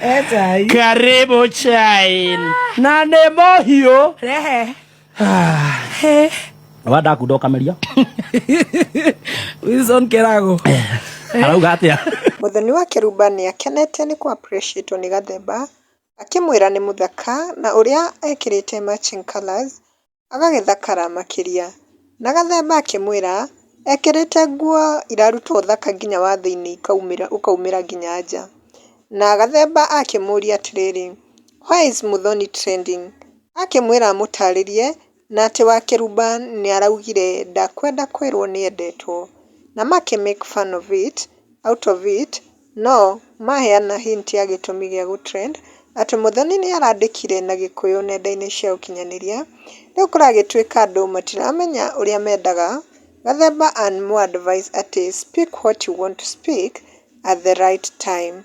Etai. Karibu chain. Na nä må hiå Rehe. He. wanda kunda å kameria Wilson Kerago. arauga atä a Mũthoni wa Kĩrumba nĩ akenete nĩ kũapreciatwo nĩ Gathemba, akĩmwĩra nĩ mũthaka na ũrĩa ekĩrĩte matching colours agagĩthakara makĩria. Na gathemba akĩmwĩra ekĩrĩte nguo iraruta ũthaka nginya wa thĩiniĩ ikaumĩra ũkaumĩra nginya nja. Na gathemba akĩmũria atĩrĩrĩ, where is Muthoni trending? Akĩmwĩra amũtarĩrie na atĩ wa kĩrumba nĩ araugire ndakwenda kwĩrwo nĩ endetwo. Na makĩ make fun of it, out of it. No maheana hint ya gĩtũmi gĩa gũ trend atĩ Muthoni nĩarandĩkire na gĩkũyũ nenda-inĩ cia ũkinyanĩria, rĩu kũragĩtuĩka andũ matiramenya ũrĩa mendaga, Gathemba and Mu advise atĩ speak what you want to speak at the right time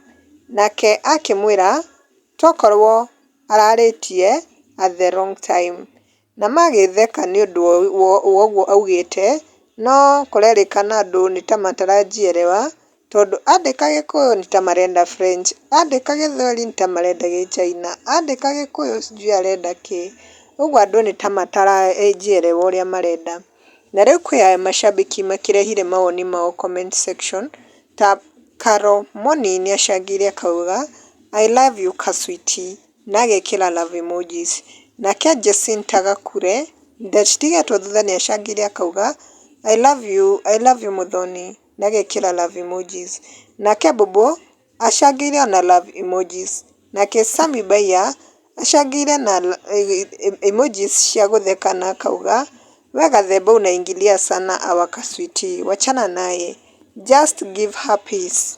nake akĩmwĩra tokorwo ararĩtie at the wrong time. Na magĩtheka nĩ ũndũ wa ũguo augĩte, no kũrerĩkana andũ nĩ ta mataranjierewa, tondũ andĩka gĩkũyũ nĩ ta marenda French, andĩka gĩthweri nĩ ta marenda gĩchina, andĩka gĩkũyũ sijui arenda kĩ, ũguo andũ nĩ ta mataranjierewa ũrĩa marenda. Na rĩu kwĩ mashabiki makĩrehire mawoni mao comment section, ta Carol Moni nĩ acangĩre akauga, I love you ka sweetie. na agekĩra love emojis. Nake Jacinta Gakure, ndatigetwo thutha nĩ acangĩre akauga, I love you, I love you Muthoni, na agekĩra love emojis. Nake Bobo acangĩre ona love emojis. Nake Sammy Mbaiya acangĩre na emojis cia gũtheka na akauga, we gathemba unaingilia sana our kasweetie, wachana naye, just give her peace.